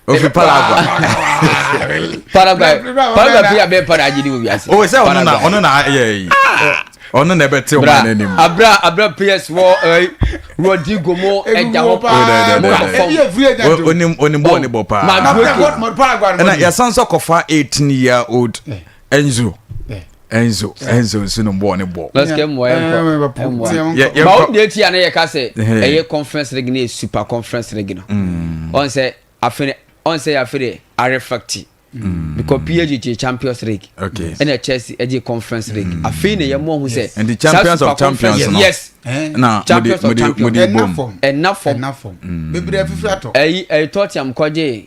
ofi paraguay paraguay paraguay fi abɛn para agye ni wo wiase o sɛ ɔno na ɔno na ayɛ yi ɔno na ɛbɛte ɔmo anɛ ne mu abira abira ps wɔ ɛɛ rodrigo mo ɛgya hɔ paa mo na fɔm onim onim bɔɔl ne bɔ paa ɛna yasan sɔ kɔfa eighteen year old. Eh. Enzo. Enzo Enzo nso no bɔɔ ne bɔɔ. lɔsikɛ mmoa yɛ nkɔ ma o deɛ ti a ne yɛ ka sɛ ɛyɛ conference league ne yɛ super conference league no ɔn sɛ afei ɔn sɛ yɛ afei de arefacti mm. because PSG gye Champions League okay. ɛna Chelsea ɛgye Conference League mm. afei na yɛn mu ɔho sɛ and the champions of champions no yes na champions of champions ɛna fam ɛna fam bebree afifiri atɔ ɛyi ɛyi Tottenham kɔgye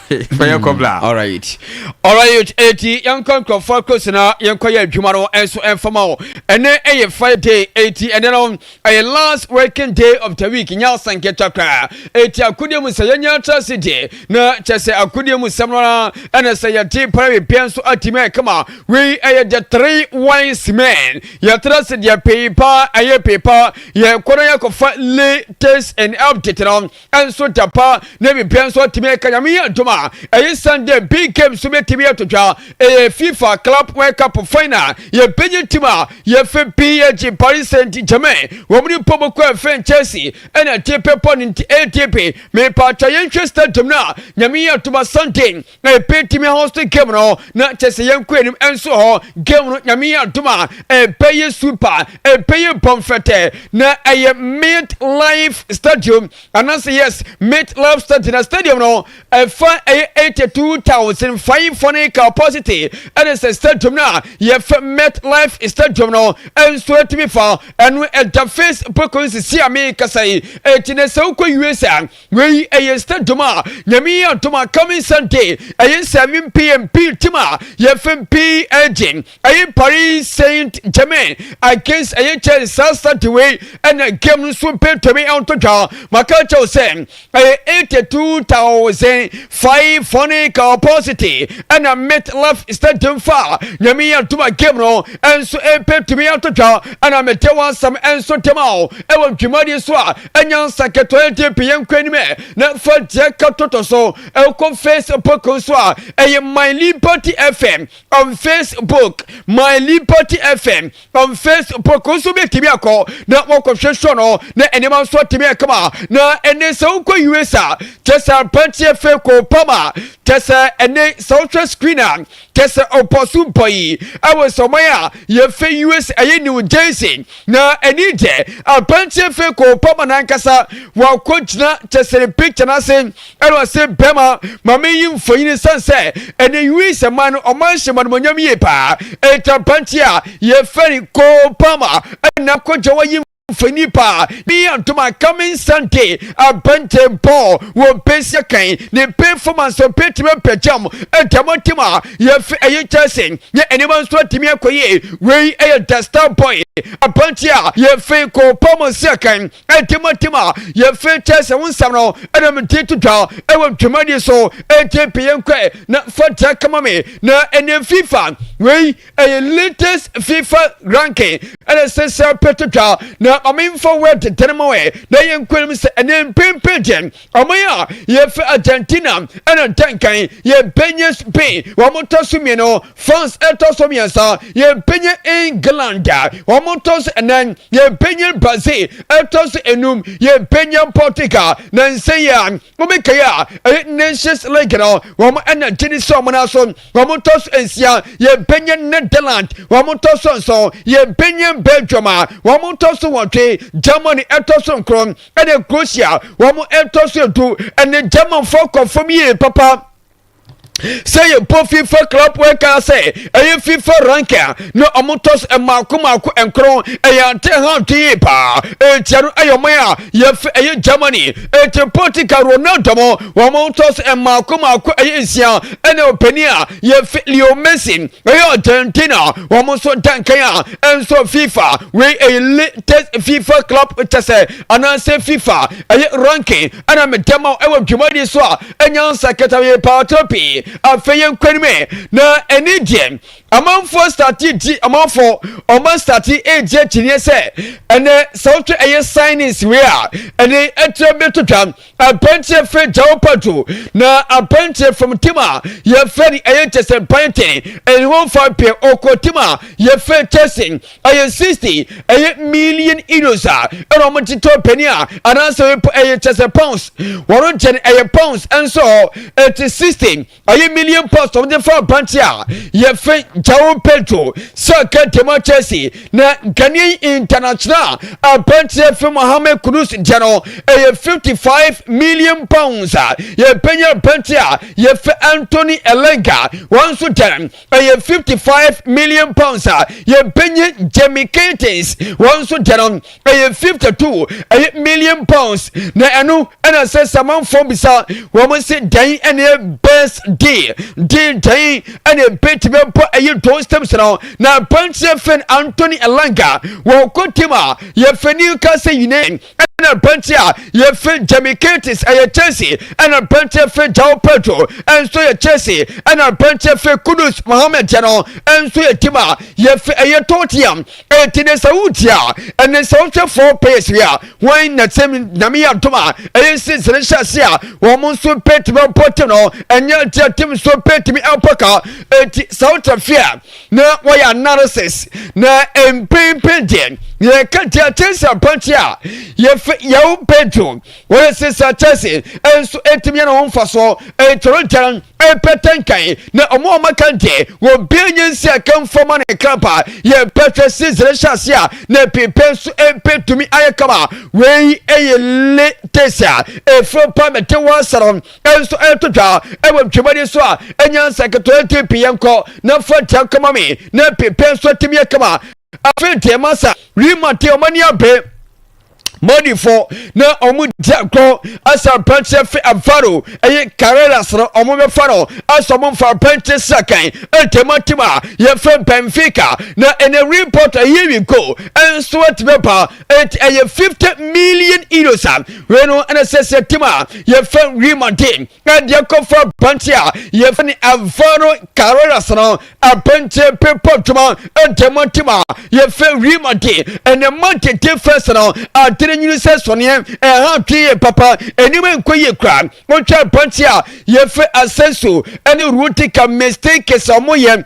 fɛyɛ hmm, kɔbla alright alright eti yɛnkɔ nkurɔfoɔ akrosi na yɛnkɔ yɛ adwuma no nso mfama o ɛnɛ ɛyɛ friday eti ɛnɛ no ɛyɛ last working day of the week nya asanketa koraa eti akodeɛ mu sɛ yɛnya atra se deɛ na kyɛ sɛ akodeɛ mu sɛm no ara ɛna sɛ yɛte para bebia nso atimi ayɛ kama wei ɛyɛ the three wise men yɛtra se deɛ pei paa ɛyɛ pei paa yɛkɔ no yɛkɔfa latest and update no nso da pa na biribiara nso atumi aka nyame yɛ adom a ɛyɛ san dɛ big game nso bɛtumi ato dwa ɛyɛ fifa club world cup final yɛbɛnya tim a yɛfɛ pg paris saint germain wɔn ne pɔ bɔkɔ ɛfɛn chelsea ɛna ɛde pɛpɔ ne nti adp mepatwa yɛnhwɛ stadium no a nyame yɛ adom a sunday na yɛpɛ timi host game no na kyɛ sɛ yɛnkɔ anim nso hɔ game no nyame yɛ adom a ɛpɛ yɛ super ɛpɛ yɛ bɔmfɛtɛ na ɛyɛ mid life stadium anaasɛ yes mid life stadium na stadium no ɛfa ɛyɛ 82500 capacity ɛne sɛ stadium no a yɛfɛ mid life stadium no ɛnso atumi fa ɛno ɛda facebook nsisi a mekasa yi ɛti na sɛ wokɔ usa Wei ɛyɛ nsɛ dom a nyame yi adom a coming Sunday ɛyɛ nsɛ me mpe yɛ mpe tim a yɛ fɛ mpe ɛgye ɛyɛ Paris Saint Germain against ɛyɛ Chelsea saa Sunday wei ɛna game no nso mpe ntɔmi ɛnto dwa maka kyɛw sɛ ɛyɛ 82,500 capacity ɛna MetLife Stadium fa nyame yi adom a game no ɛnso mpe ntɔmi ɛnto dwa ɛna mede wansam ɛnso dɛm a ɛwɔ dwumadie so a Ɛnyɛ nsa ketewa nti pii yɛn nkɔ anim na fa deɛ ka toto so ɛkɔ facebook nso a ɛyɛ my liberty fm on facebook my liberty fm on facebook nso bɛtumi akɔ na wɔkɔhwehwɛ no na nneɛma nso atumi akama na ɛne sɛ wokɔ us a kyɛ sɛ aberanteɛ fɛ kɔ pama kyɛ sɛ ɛne sɛ wohwɛ screen a kyɛ sɛ ɔbɔ so bɔ yi ɛwɔ sɔman a yɛfɛ us ɛyɛ new jersey na ɛni deɛ aberanteɛ fɛ kɔ obama nankasa wakɔ gyina kyɛ sɛ ne picture no ase ɛna ɔse bɛma ma meyi mfonyini san sɛ ɛne us man no ɔman hyɛ manomonyam yie paa ɛnti aberanteɛ a yɛfɛ ne kɔ obama ɛna kɔgya wayi fɛ nipa ne yɛ ntoma coming sunday abante ball wɔ bɛsia kan ne performance ɔbɛtumi apɛgyam ɛdɛm ntem a yɛfi ɛyɛ chelsea ne ɛnema nso atumi akɔyɛ wei ɛyɛ the star boy abante a yɛfi kɔpa mu sia kan ɛdɛm ntem a yɛfi chelsea ho nsɛm no ɛna mede to dwa ɛwɔ dwumadi so ɛnti peyɛ nkɔɛ na fa dra kama me na ɛne fifa wei Ɛyɛ latest fifa ranking ɛna ɛsɛ sɛ apɛ twitwa na maame nfa wɛ tetɛn ma wɛ na yɛ nkunim sɛ ɛnɛ mpempe deɛ ɔman a yɛfɛ Argentina ɛna ntankan yɛbɛnyɛ Spain wɔn tɔ so mmienu France ɛtɔ so mmiɛnsa yɛbɛnyɛ England wɔn tɔ so ɛnan yɛbɛnyɛ Brazil ɛtɔ so enum yɛbɛnyɛ Portugal na nsɛn yɛ a wɔbɛkɛyɛ a ɛyɛ Nations League no wɔn ɛna gyini sɛ wɔn aso wɔn tɔ so nsia yɛ mpanyin netherland wɔn tɔ so nson yɛ mpanyin belgium a wɔn tɔ so wɔtwe germany ɛtɔ so nkron ɛne croatia wɔn ɛtɔ so edu ɛne germanfoɔ kɔ fam yie papa sɛ yɛbɔ fifa club ɛka sɛ ɛyɛ fifa ranka na ɔmo tɔ so mmaako mmaako nkron ɛyɛ ante ha dwen paa ɛtia no ɛyɛ ɔman a yɛfɛ ɛyɛ Germany ɛti Portugal Ronaldo mo wɔn tɔs mmaako mmaako ɛyɛ nsia ɛna ɔpanin a yɛfɛ Leo Messi ɛyɛ Argentina wɔn nso dankan a ɛnso FIFA wei ɛyɛ latest FIFA club kyɛsɛ anaasɛ FIFA ɛyɛ ranking ɛna meda ma ɛwɔ dwumadi so a ɛnya nsakata yɛ paatɔ pii afei yɛn kwan mu na ɛni deɛ Amanfoɔ startee di amanfoɔ ɔman startee ɛɛdi akyinneɛ sɛ ɛnɛ sɛ wotwe ɛyɛ signings wei a ɛnɛ ɛkyerɛ bi to twa apɛnteɛ fɛ gyawo pato na apɛnteɛ from tim a yɛfɛ ne ɛyɛ kyɛsɛn panten ɛne ho fa pɛ ɔkɔ tim a yɛfɛ kyɛsɛn ɛyɛ 60 ɛyɛ million euros a ɛna wɔn te tɔ pɛni a anaasɛ ɛyɛ kyɛsɛ pounds wɔn kyɛn ɛyɛ pounds ɛnso ɛte 60 Ayi million pounds wɔn de fa aberanteɛ a yɛfɛ João Pedro sɛ kɛntɛm a Chelsea na Ghanaian international aberanteɛ fɛ Mohamed Kudus deɛ no ɛyɛ 55 million pounds a yɛbɛnya aberanteɛ a yɛfɛ Anthony Elanga wɔn nso dɛn ɛyɛ 55 million pounds a yɛbɛnya Jamie Curtis wɔn nso deɛ no ɛyɛ fifty two ɛyɛ million pounds na ɛno ɛna sɛ samanfoɔ bisa wɔn se dɛn ɛne best deal deal dɛn ɛne ebetumi bɔ ɛyɛ don steps no na aberanteɛ fɛn Anthony Elanga wɔn kɔ tim a yɛfɛ Newcastle United ɛna aberanteɛ a yɛfɛ Jamie Curtis ɛyɛ Chelsea ɛna aberanteɛ fɛ João Pedro ɛnso yɛ Chelsea ɛna aberanteɛ fɛ Kudus Mohammed no ɛnso yɛ tim a yɛfɛ ɛyɛ Tottenham Enti ne sɛ woretie a, ɛne sɛ wohwɛ four pairs yi a, wɔn na sɛ nyame yɛ adom a, ɛyɛ nsinsene hyɛ ase a, wɔn nso bɛtumi abɔ te no, ɛnyɛ deɛ tim nso bɛtumi abɔ ka. Enti sɛ wotra fie a, na wɔyɛ analysis, na mpempem deɛ, yɛka deɛ akyɛ sɛ apanti a, yɛfɛ yɛwo bɛdwo, wɔyɛ sisa kyɛse, ɛnso ɛtumi yɛ ne ho mfa so, ɛtɔrɔ gyɛn. ɛpɛtɛ nkan na ɔmo a ɔmo aka deɛ wɔbɛn nyɛ nsi aka nfa ma ne krampa yɛpɛ hwɛ si zere hyɛ ase a na ɛpepɛ nso ɛbɛtumi ayɛ kama wei ɛyɛ latest a ɛfiri pa mɛte wɔ asara ɛnso ɛto dwa ɛwɔ dwumadi so a ɛnya nsa ketewa ti pii yɛn kɔ na fa tia kama me na ɛpepɛ nso ɛtumi yɛ kama afei deɛ masa rima te ɔmo ani abe Modifo na wɔn di agorɔ asɛ aberanteɛ fe afaro ɛyɛ karelas no wɔn bɛfa no asɛ wɔn mfa aberanteɛ srakan ntɛmatɛm a yɛfrɛ benfica na ɛnɛ report ɛyɛ wi go ɛnso atumi aba ɛnti ɛyɛ 50 million euros a wei no ɛna sɛsɛ tim a yɛfrɛ real madrid na deɛ kɔfa pante a yɛfɛ ne avaro carreras no apante pepa adwuma ɛdɛ mu atim a yɛfɛ real madrid ɛnɛ madrid te fɛs no adere nyini sɛ sɔneɛ ɛha adwene yɛ papa ɛnima nkɔ yie kora wotwa pante a yɛfɛ asɛnso ɛne rutika mistakes a wɔyɛ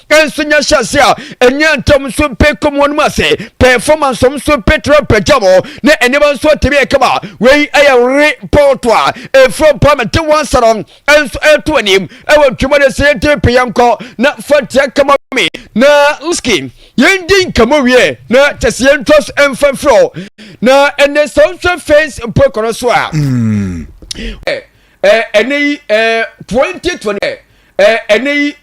nso nya hyɛase a ɛnyɛ ntɛm nso pɛ kɔm wɔn mu ase performance wɔn nso pɛ twerɛ pɛgya wɔ ne nneɛma nso atɛbi yɛ kama wei ɛyɛ re pɔɔto a ɛfiri parliament wɔn nsa no nso ɛto anim ɛwɔ ntwema de sɛ yɛntɛbi pɛ yɛn kɔ na fatia kama me na lski yɛn di nkama wie na kyɛ sɛ yɛn twa so ɛmfa mfiri na ɛnɛ sɛ wɔn nso fɛns mpo ɛkɔnɔ so a ɛnɛ yi 2020 ɛnɛ yi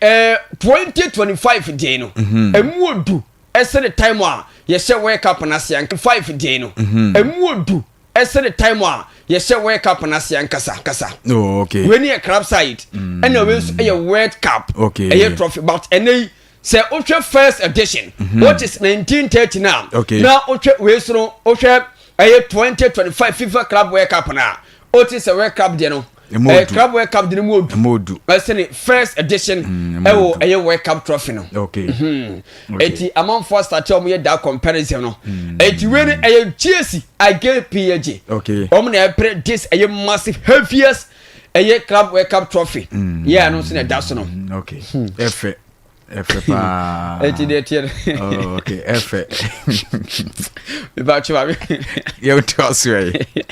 twenty twenty five deɛ no ɛmu odu ɛsɛ ne time a yɛhyɛ wɔyɛ cup n'ase anka five deɛ no ɛmu odu ɛsɛ ne time a yɛhyɛ world cup no ase ankasa kasa oh, okay. wei ne yɛ crab side ɛna mm. wei nso ɛyɛ world cup okay. ɛyɛ trophy but ɛnɛ yi sɛ wohwɛ first edition mm -hmm. which is 1930 no a okay. na wohwɛ wei so no wohwɛ ɛyɛ 2025 fifa club world cup no a wote sɛ world cup deɛ no eh, club world cup deɛ no mu odu ɛsɛne first edition mm, ɛwɔ ɛyɛ world cup trophy no okay. mm -hmm. okay. ɛti amanfoɔ asate a wɔyɛ da comparison no mm. ɛti wei no ɛyɛ gyesi again pg okay. wɔn na ɛpere this ɛyɛ massive heaviest ɛyɛ club world cup trophy mm. yɛ ano nso na ɛda so no mm, okay hmm. ɛfɛ ɛfɛ paa ɛti deɛ tiɛ oh, okay ɛfɛ mebatwe wa me yɛwo te asoɛ yi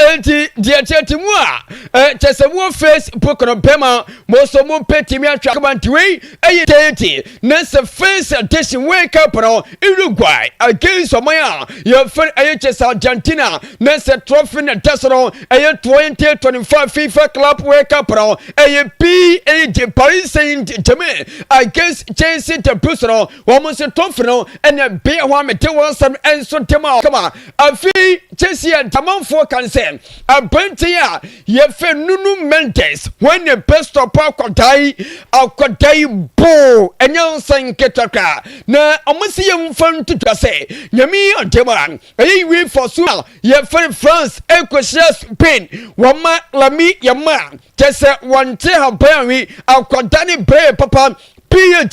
ɛnti deɛ tiɛ ti mu a kyɛ sɛ mo facebook no bɛma mo nso mo mpɛ timi atwa kama nti wei ɛyɛ tete na sɛ first edition World Cup no Uruguay against ɔman a yɛfrɛ ɛyɛ kyɛ sɛ Argentina na sɛ trophy na da so no ɛyɛ 2025 FIFA Club World Cup no ɛyɛ PSG Paris Saint-Germain against Chelsea the Blues no wɔn nso trophy no ɛna bea hɔ a mete wɔn asɛm nso de ma kama afei Chelsea a damanfoɔ kan sɛ aberanteɛ a Yɛfɛ Nunu Mendes, hɔn na Pastor Paul Kwadai Akwadai boo nyansa nketewa koraa, na ɔma sɛ yɛmfa nto dwa sɛ Nyame yi ɔde ma. Ɛyɛ yiwei fa so a yɛfɛr France kɔhyia Spain, wɔma Lami yɛma a, kyerɛ sɛ wɔnntse haban a we akɔda ne brɛɛ papa PAG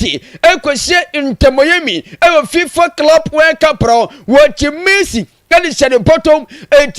kɔhyia Inter Miami wɔ FIFA Club World Cup no, wɔkye Messi de hyɛ ne bɔtɔm, enti